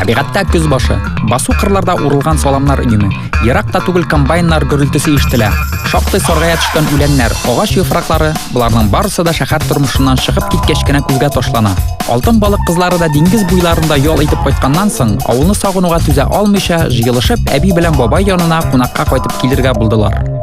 Табигатьтә көз башы. Басу кырларда урылган саламнар өеме. Еракта түгел комбайннар гөрелтесе ишетелә. Шактый саргая төшкән үләннәр, агач яфраклары, боларның барысы да шәһәр тормышыннан чыгып киткәч кенә күзгә ташлана. Алтын балык кызлары да диңгез буйларында ял итеп кайтканнан соң, авылны сагынуга түзә алмыйча, җыелышып, әби белән бабай янына кунакка кайтып килергә булдылар.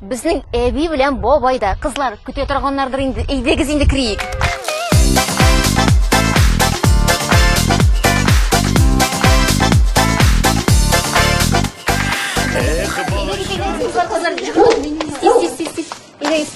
Безнең әби белән бабай да. Кызлар, көтә торганнардыр инде. Әйдәгез инде криик. Эх, балачан. Кызлар, тиз, тиз, тиз. Әйдәгез.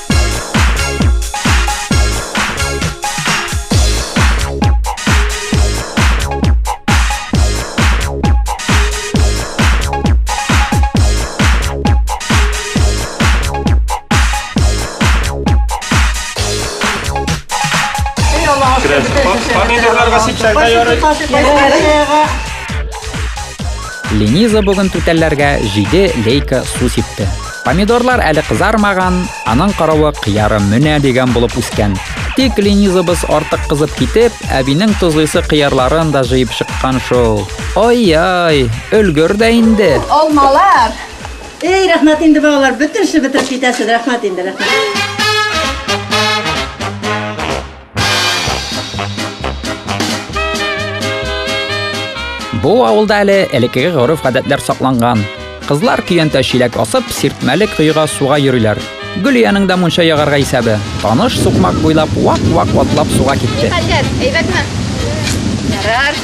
Линиза бүген түтәлләргә җиде лейка су сипте. Помидорлар әле кызармаган, аның каравы кыяры менә дигән булып үскән. Тик Ленизабыз артык кызып китеп, әбинең тозлыйсы кыярларын да җыеп чыккан шул. Ай-яй, өлгер дә инде. Алмалар. Эй, рәхмәт инде балалар, бөтен эшне бетереп китәсез. Рәхмәт инде, рәхмәт. Бу авылда әле элеккеге гореф-гадәтләр сакланган. Кызлар көянтә чиләк асып, сиртмәле коега суга йөриләр. Гөлиянең дә мунча ягарга исәбе. Таныш сукмак буйлап вак-вак атлап суга китте. Хәлләр, әйбәтме? Ярар.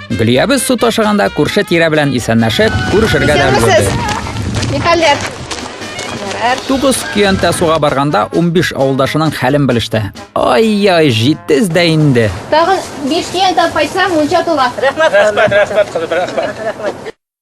Гөлиябез су ташыганда күрше тирә белән исәнләшеп, күрешергә дә өлгерде. Нихәлләр? Тугыз көянтә суга барганда 15 авылдашының хәлен белеште. Ай-яй, җитез дә инде. Тагын 5 көянтә кайтса, мунча тула. Рәхмәт, рәхмәт, рәхмәт, рәхмәт.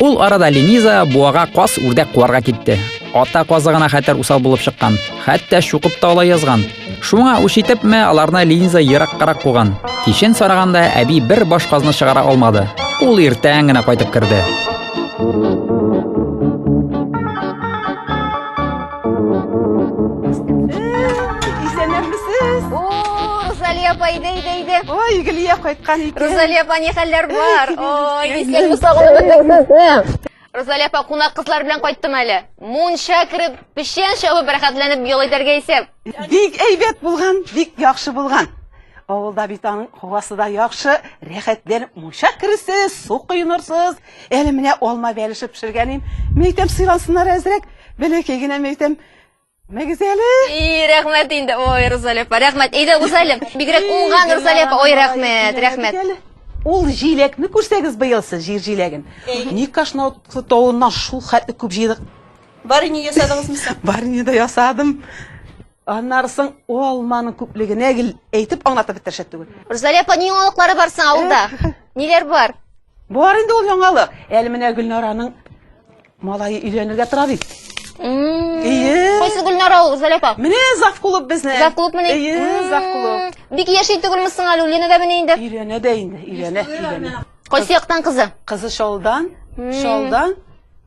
Ул арада Лениза буага кас үрдәк куарга китте. Ата казы гына хәтәр усал булып чыккан. Хәтта шукып та алай язган. Шуңа үч итепме, аларны Лениза ераккарак куган. Кичен сараганда әби бер баш казны чыгара алмады. Ул иртән генә кайтып керде. Исәннәрмесез? О, Розалия апа, иде, иде, иде. Ой, Гөлия кайткан икән. Розалия апа, ни хәлләр бар? Ой, исәнме сагынып Розалия апа, кунак кызлар белән кайттым әле. Мунча кереп, печән чабып, рәхәтләнеп ял итәргә исәп. Бик әйбәт булган, бик яхшы булган. Авылда бит аның һавасы да яхшы, рәхәтләнеп мунча кересез, су коенырсыз. Әле менә алма бәлеше пешергәнем. Мин әйтәм, сыйлансыннар әзрәк. Бәләкәй генә мин әйтәм, Мәгез әле. И, рәхмәт инде. Ой, Рузалия апа, рәхмәт. Әйдә, Рузалия. Бигрәк уңган Рузалия апа. Ой, рәхмәт, рәхмәт. Ул җиләкне күрсәгез быел сез, җир җиләген. Никашна тавыннан шул хәтле күп җыйдык. Барини ясадыгызмы соң? Барини да ясадым. Аннары соң ул алманың күплегенә гел әйтеп аңлатып бетер шәт түгел. Рузалия апа, ни яңалыклары бар соң авылда? Ниләр бар? Бар инде ул яңалык. Әле менә Гөлнараның малае өйләнергә тора бит. Ие. Кайсы Гөлнара ул, Рузалия апа? Менә зав клуб безне. Зав клуб менә. Ие, зав клуб. Бик яши түгелме соң әле, Лена дә менә инде. Өйләнә дә инде, өйләнә, өйләнә. Кайсы яктан кызы? Кызы Шалдан, Шалдан.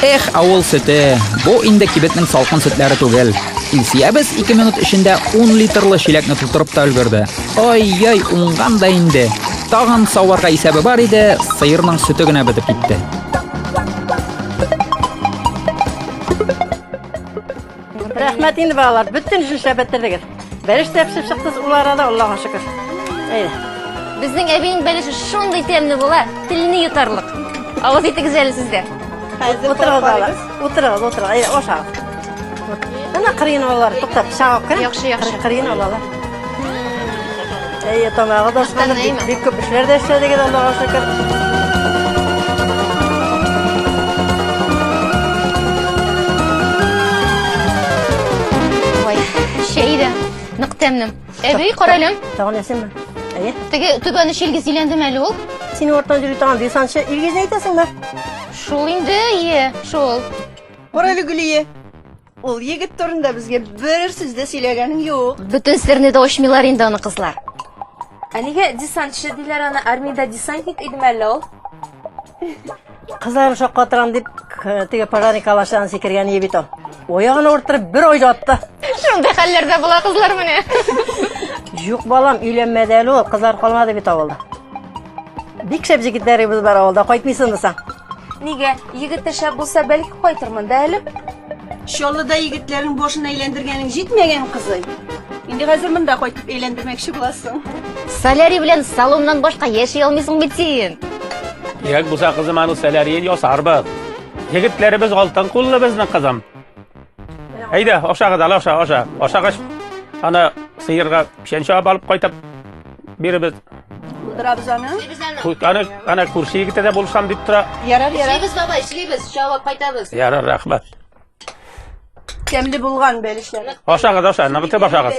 Эх, авыл сөте. Бу инде кибетнең салкын сөтләре түгел. Илсиябез 2 минут эчендә 10 литрлы чиләкне тутырып та өлгерде. Ай-яй, уңган да инде. Тагын саварга исәбе бар иде, сыерның сөте генә бетеп китте. Рәхмәт инде балалар, бөтен эшне эшләп бетердегез. Бәлеш тә пешеп чыкты ул арада, Аллаһыга шөкер. Әйдә. Безнең әбинең бәлеше шундый тәмле була, телне йотарлык. Авыз итегез әле сездә. Хәзер утырыгыз балалар. Утырыгыз, утырыгыз. Әйдә, ашагыз. Ана кырын алалар, туктап, чагып кына. Яхшы, яхшы. Кырын алалар. Әйе, тамағы да ысқанып, бик, бик күп эшләр дә эшләдегез, Аллаһуга шөкер. Ой, чәй дә нык тәмле. Әби, каралем. Тагын ясыймы? Әйе. Теге түбәне шилгез иләндеме әле ул? Син ортан йөри торган десантчы Илгизне әйтәсеңме? Шул инде, ие, шул. Карале Гөлие, Ул егет турында безгә бер сүз дә сөйләгәнең юк. Бөтен серне дә ачмыйлар инде аны кызлар. Ә нигә десантчы диләр аны? Армиядә десантник идеме әллә ул? Кызларым шаккатырам дип, к- теге пожарный калашан сикергән ие бит ул. Оягын авырттырып бер айда атты. Шундый хәлләрдә була кызлар менә. Юк, балам, өйләнмәде әле ул, кызлар калмады бит авылда. Бик шәп җегетләребез бар авылда, кайтмыйсыңмы соң? Нигә? Егет тә шәп булса, бәлки кайтырмын да әле. Чаллыда егетләрнең башын әйләндергәнең җитмәгән кызый. Инде хәзер монда кайтып әйләндермәкче буласың. Солярий белән салоннан башка яши алмыйсың бит син. Кирәк булса, кызым, аның солярийын ясарбыз. Егетләребез алтын куллы безнең кызым. Әйдә, аша кадала, аша, аша. Ашагач, ана сыерга печән чабып алып кайтып биребез. Булдырабыз аны. Аны, аны күрше егетә дә булышам дип тора. Ярар, ярар. Эшлибез, баба, эшлибез, чабып кайтабыз. Ярар, рәхмәт. Тәмле булган бәлешләр. Ашагыз, аша, ныгытып ашагыз.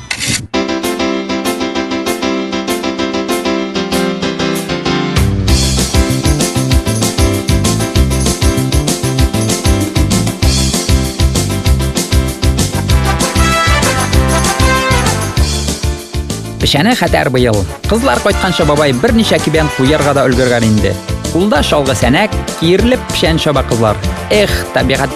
Печәне хәтәр быел. Кызлар кайтканчы бабай берничә кибән куярга да өлгергән инде. Кулда чалгы сәнәк, киерлеп печән чаба кызлар. Эх, табигать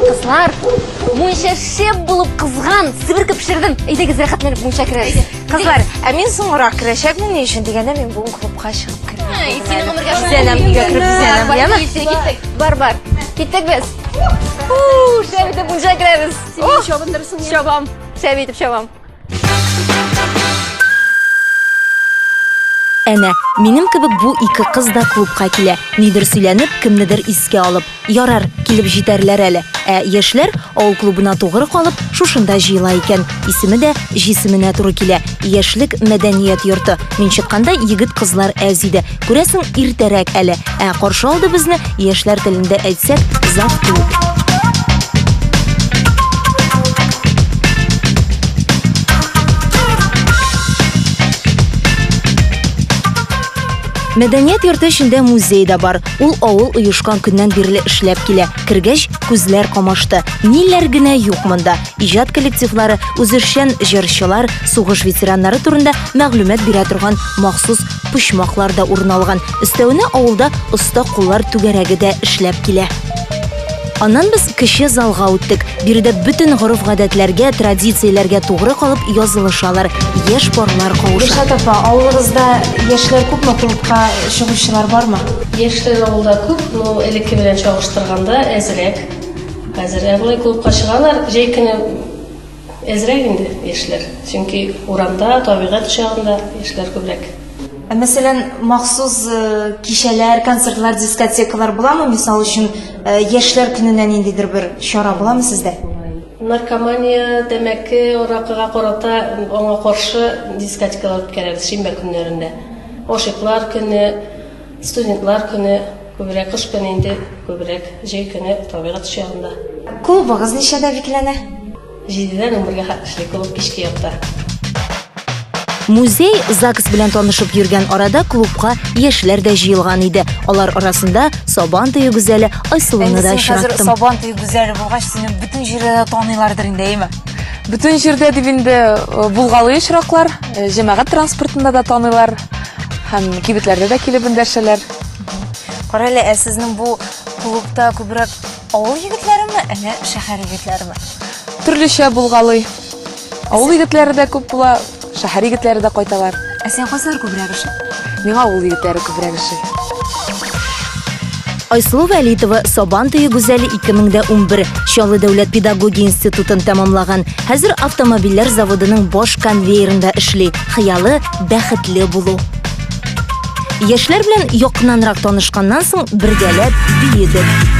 Кызлар, мунча шеп булып кызган, себеркеп пешердем. Әйдәгез, рәхәтләнеп мунча керәбез. Кызлар, ә мин соңрак керәчәкмен ни өчен дигәндә мин бүген клубка чыгып кердем. Сине гомергә бизәнәм, өйгә кереп бизәнәм, яме? Бар, бар. Киттек без. Шәп итеп мунча керәбез. Син чабындырсың. Чабам. Шәп итеп чабам. Әнә, минем кебек бу ике кыз да клубка килә. Нидер сөйләнеп, кемнедер искә алып. Ярар, килеп җитәрләр әле. Ә яшьләр авыл клубына тугры калып, шушында җыела икән. Исеме дә җисеменә туры килә. Яшьлек мәдәният йорты. Мин чыкканда егет-кызлар әз иде. Күрәсең, иртәрәк әле. Ә каршы алды безне, яшьләр телендә әйтсәк, завтра. Мәдәният йорты эчендә музей да бар. Ул авыл оешкан көннән бирле эшләп килә. Кергәч, күзләр камашты. Ниләр генә юк монда. Иҗат коллективлары, үзешчән җырчылар, сугыш ветераннары турында мәгълүмат бирә торган махсус почмаклар да урын алган. Өстәвенә авылда оста куллар түгәрәге дә эшләп килә. Аннан без кече залга үттек. Биредә бөтен гореф-гадәтләргә, традицияләргә тугры калып язылышалар, яшь парлар кавыша. Гөлшат апа, авылыгызда яшьләр күпме клубка чыгучылар бармы? Яшьләр авылда күп, но элекке белән чагыштырганда әзрәк. Хәзер, ә болай клубка чыгалар, җәй көне Әзрәк инде яшьләр, чөнки урамда, табигать кочагында яшьләр күбрәк. Ә мәсәлән, махсус кичәләр, концертлар, дискотекалар буламы? Мисал өчен, яшьләр көненә ниндидер бер чара буламы сездә? Наркомания, тәмәке, аракыга карата аңа каршы дискотекалар үткәрәбез шимбә көннәрендә. Гашыйклар көне, Студентлар көне күбрәк кыш көне инде күбрәк җәй көне табигать чагында. Клубыгыз ничәдә бикләнә? Җидедән унбергә хат эшли клуб кичке якта. Музей ЗАГС белән танышып йөргән арада клубка яшьләр дә җыелган иде. Алар арасында Сабан төе гүзәле Айсылуны да очраттым. Сабан төе гүзәле булгач, сине бөтен җирдә дә таныйлардыр инде, әйме? Бөтен җирдә дип инде э, булгалый очраклар, э, җәмәгать транспортында да таныйлар. Һәм кибетләрдә дә килеп эндәшәләр. Кара әле, ә сезнең бу клубта күбрәк авыл егетләреме, әллә шәһәр егетләреме? Төрлечә булгалый. Авыл егетләре дә күп була, шәһәр егетләре дә кайталар. Ә сиңа кайсылар күбрәк ошый? Миңа авыл егетләре күбрәк ошый. Айсылу Вәлитова Сабан туе гүзәле 2011 Чаллы дәүләт педагогия институтын тәмамлаган. Хәзер автомобильләр заводының баш конвейерында эшли. Хыялы бәхетле булу. Яшьләр белән якыннанрак танышканнан соң бергәләп биедек.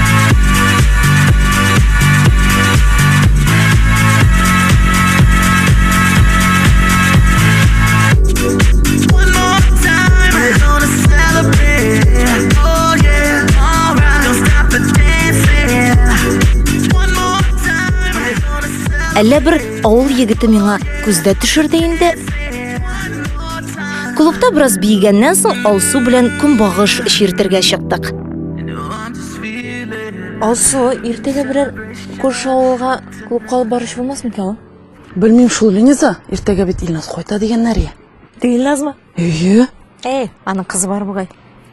Әллә бер авыл егете миңа күздә төшерде инде. Клубта бераз биегәннән соң Алсу белән көнбагыш чиртергә чыктык. Алсу, иртәгә берәр күрше авылга клубка алып барыш булмас микән? Белмим шул, Лениза, иртәгә бит Илназ кайта дигәннәр я. Илназмы? Әйе. Әй, аның кызы бар бугай.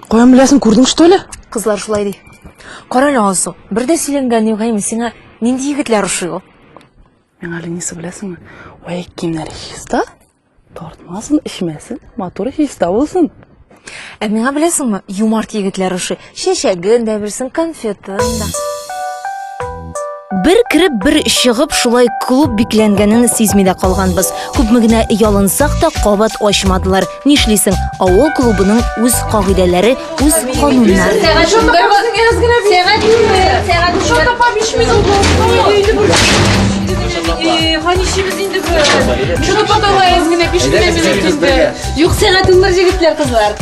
Каян беләсең, күрдең что ли? Кызлар шулай ди. Кара әле Алсу, бер дә сөйләнгән юк әйме сиңа нинди егетләр ошый ул? Миңа Лениза беләсеңме? Вәек киемнәре чиста. Тартмасын, эчмәсен, матур чиста булсын. Ә миңа беләсеңме, юмарт егетләр ошый. Чәчәген дә бирсен, конфетын да. Бер кереп, бер чыгып, шулай клуб бикләнгәнен сизми дә калганбыз. Күпме генә ялынсак та, кабат ачмадылар. Нишлисең, авыл клубының үз кагыйдәләре, Үз кануннар. Ханишебез инде бу. Шуны поталайыз гына пишкенә минут инде. Юк сәгать уннар җегетләр кызлар.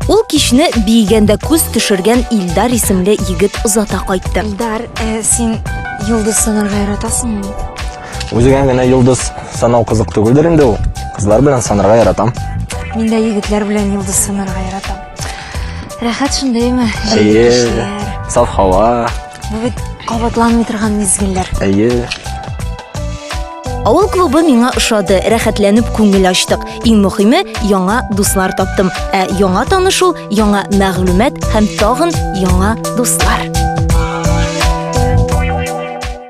Ул кичне биегәндә күз төшергән Илдар исемле егет озата кайтты. Илдар, син йолдыз сынарга яратасыңмы? Үзегә генә йолдыз санау кызык түгелдер инде ул. Кызлар белән санарга яратам. Мин дә егетләр белән йолдыз санарга яратам. Рәхәт шундыймы? Җәй кешеләр. Саф һава. Бу бит кабатланмый торган мизгелләр. Әйе. Авыл клубы миңа ошады, рәхәтләнеп күңел ачтык. Иң мөхиме, яңа дуслар таптым. Ә яңа танышу, яңа мәгълүмат һәм тагын яңа дуслар.